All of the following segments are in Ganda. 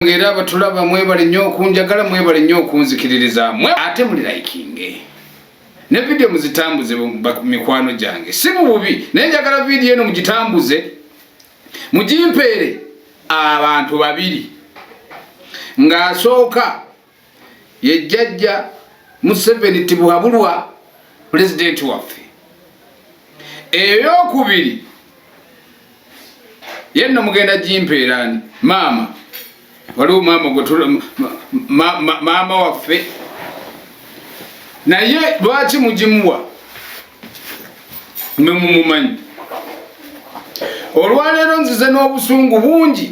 banange era abatulaba mwebale nnyo okunjagala mwebale nnyo okunzikiririza mwe ate muli likinge ne vidiyo muzitambuze mikwano gyange si mu bubi naye njagala vidiyo eno mugitambuze mugimpeere abantu babiri ng'asooka ye jjajja museveni tibuhabulwa pulezidenti waffe eyokubiri yenno mugenda gimpeerani maama waliwo maama gwe maama waffe naye lwaki mugimuwa mwe mumumanyi olwaleero nzize n'obusungu bungi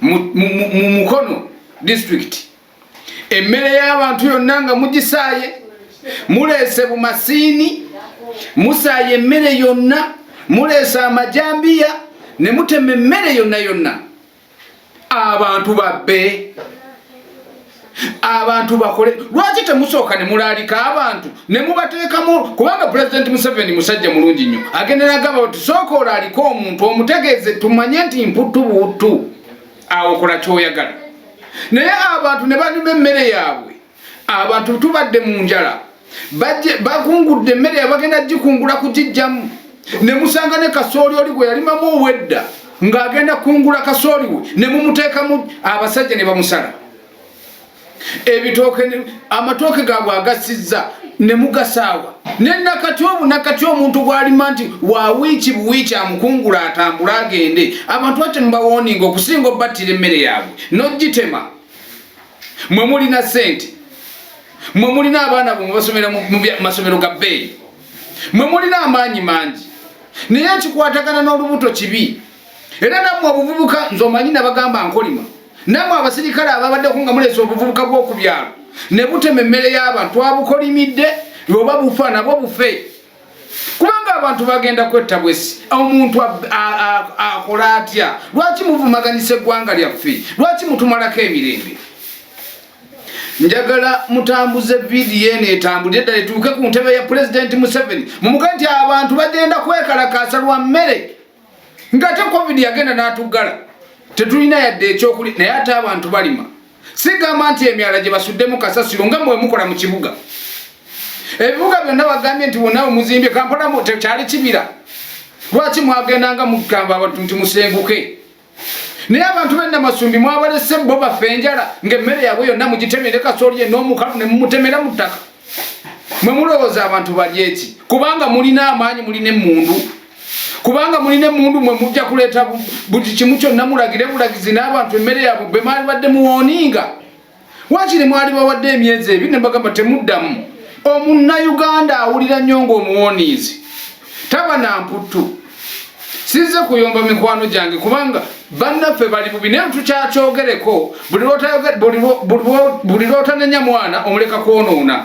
mu Mukono district emmere y'abantu yonna nga mugisaaye muleese bumasiini musaaye emmere yonna muleese amajambiya ne mutema emmere yonna yonna abantu babbe abantu bakole lwaki temusooka ne mulaalika abantu ne mubateekamu kubanga pulezidenti museveni musajja mulungi nnyo agenda nagamba bati sooka olaalika omuntu omutegeeze tumanye nti mputtu buuttu awo kola kyoyagala naye abantu ne banyuma emmere yaabwe abantu tubadde mu njala bakungudde emmere yabagenda gikungula kugijjamu ne musanga ne kasooli oli gwe yalimamu owedda ng'agenda kungula kasooli we ne mumuteekamu abasajja ne bamusala ebitooke amatooke gaabwe agasizza ne mugasaawa ne nakati obu nakati omuntu gwalima nti wa wiiki buwiiki amukungula atambula agende abantu ate mubawoninga okusinga obattira emmere yaabwe nogitema mwe mulina sente mwe mulina abaana bwe mubasomera mu masomero ga bbeeyi mwe mulina amaanyi mangi naye ekikwatagana n'olubuto kibi era nammwe obuvubuka nze omanyi nabagamba nkolima nammwe abasirikale ababaddeko nga muleesa obuvubuka bw'oku byalo ne butema emmere y'abantu abukolimidde oba bufa nabwo bufe kubanga abantu bagenda kwetta bwesi omuntu akola atya lwaki muvumaganyisa eggwanga lyaffe lwaki mutumalako emirembe njagala mutambuze vidiyo eno etambulire ddala etuuke ku ntebe ya pulezidenti museveni mumuge nti abantu bagenda kwekalakaasa lwa mmere ngate covid yagenda natuggala tetulina yadde ekyokuli naye ate abantu balima sigamba nti emyala gye basuddemu kasasiro nga mwemukola mu kibuga ebibuga byonna bagambye nti bonawe muzimbye kampala tekyali kibira lwaki mwagendanga mugamba abantu nti musenguke naye abantu bena masumbi mwabalese bo bafe enjala ngaemmere yabwe yonna mugitemere kasooli ye n'omukalu ne mumutemera mu ttaka mwe mulowooza abantu balyeki kubanga mulina amaanyi mulina emmundu kubanga mulina emundu mwe mujja kuleeta buli kimu kyonna mulagire bulagizi n'abantu emmere yabwe bwe mwalibadde muwooninga wakiri mwali bawadde emyezi ebiri ne bagamba temuddamu omunnayuganda awulira nnyo ng'omuwoniizi taba na mputtu sinze kuyomba mikwano gyange kubanga bannaffe bali bubi naye tukyakyogereko buli lwotanenya mwana omuleka kwonoona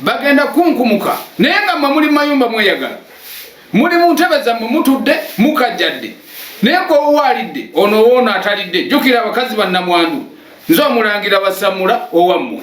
bagenda kunkumuka naye nga mwe muli mayumba mweyagala muli mu ntebe zammwe mutudde mukajjadde naye gwewowa alidde ono woono atalidde jjukira abakazi bannamwandu nze omulangira basamula owammwe